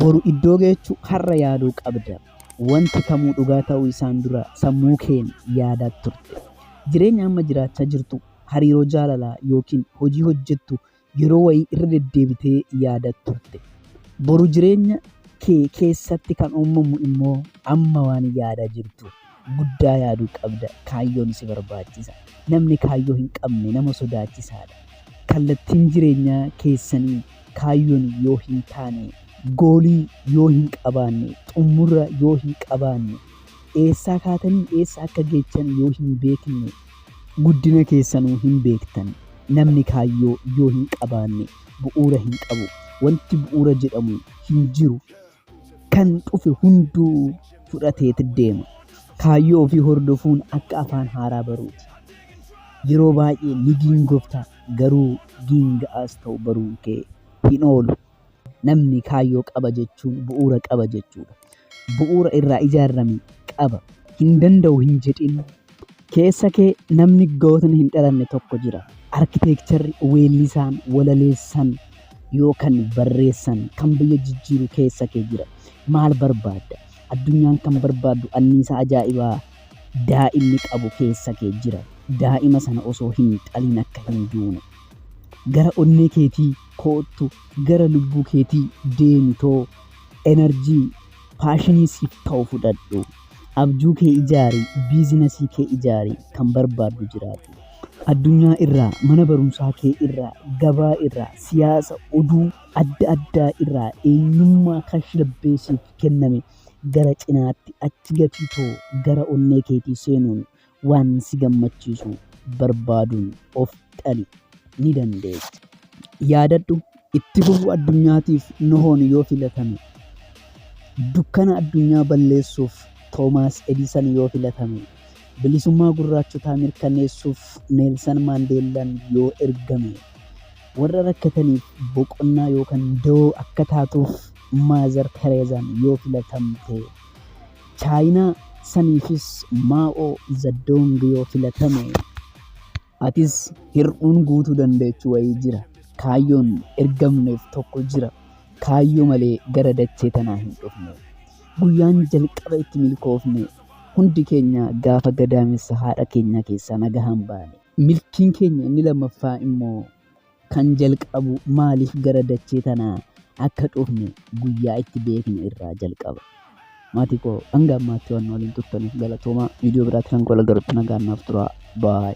Boru iddoo geechu har'a yaaduu qabda. Wanti kamuu dhugaa ta'uu isaan dura sammuu keen yaadaa turte. Jireenya amma jiraachaa jirtu, hariiroo jaalalaa yookiin hojii hojjettu yeroo wayii irra deddeebitee yaadaa turte. Boru jireenya kee keessatti kan uumamu immoo amma waan yaadaa jirtuuf. guddaa yaaduu qabda. Kaayyoon si barbaachisa. Namni kaayyoo hin qabne nama sodaachisaadha. Kallattiin jireenyaa keessanii kaayyoon yoo hin taane, goolii yoo hin qabaanne, xumura yoo hin qabaanne, eessaa kaatanii eessa akka geechan yoo hin beekne, guddina keessanuu hin beektan. Namni kaayyoo yoo hin qabaanne bu'uura hin qabu. Wanti bu'uura jedhamu hin jiru. kan dhufe hunduu fudhateet deema. Kaayyoo ofii hordofuun akka afaan haaraa baruuti. Yeroo baay'ee ni giingofta garuu giinga'aas ta'u baruun kee hin oolu. Namni kaayyoo qaba jechuun bu'uura qaba jechuudha. Bu'uura irraa ijaarame qaba. Hin danda'u hin jedhin Keessa kee namni gootni hin dhalanne tokko jira. Arkiteekcharri weellisaan, walaleessan yookan barreessan kan biyya jijjiiru keessa kee jira. Maal barbaadda? Addunyaan kan barbaaddu anniisaa ajaa'ibaa daa'imni qabu keessa kee jira. Daa'ima sana osoo hin dhalin akka hin duune. Gara onnee keetii koottu, gara lubbuu keetii deemitoo enerjii paashinii siif ta'u fudhadhu. Abjuu kee ijaari, biizinasii kee ijaari, kan barbaaddu jiraadhu. Addunyaa irraa, mana barumsaa kee irraa, gabaa irraa, siyaasa, oduu adda addaa irraa eenyummaa kan shilbee siif kenname gara cinaatti achi gatii too gara onnee keetii seenuun Waan si gammachiisu barbaaduun of qali, ni dandeessa. Yaadadhu, itti fufuu addunyaatiif Nohoon yoo filatame, dukkana addunyaa balleessuuf Toomaas Edisan yoo filatame, bilisummaa gurraachotaa mirkaneessuuf Neelsan Maandeellaan yoo ergame, warra rakkataniif boqonnaa yookaan dawoo akka taatuuf Maazar Tereezaan yoo filatamte, Chaayinaa saniifis Maa'oo Zaddoong yoo filatame atis hir'uun guutuu dandeechu wayii jira. Kaayyoon ergamneef tokko jira. Kaayyoo malee gara dachee tanaa hin dhufne. Guyyaan jalqaba itti milkoofne hundi keenya gaafa gadaamessa haadha keenyaa keessaa nagahaan baane. Milkiin keenya inni lammaffaa immoo Kan jalqabu maaliif gara dachee tanaa akka dhufne guyyaa itti beekne irraa jalqaba. Maatii koo hanga ammaatti waan waliin turtaniif galatoomaa. Viidiyoo biraatti kan koo lagarutti nagaan naaf turaa. Baay.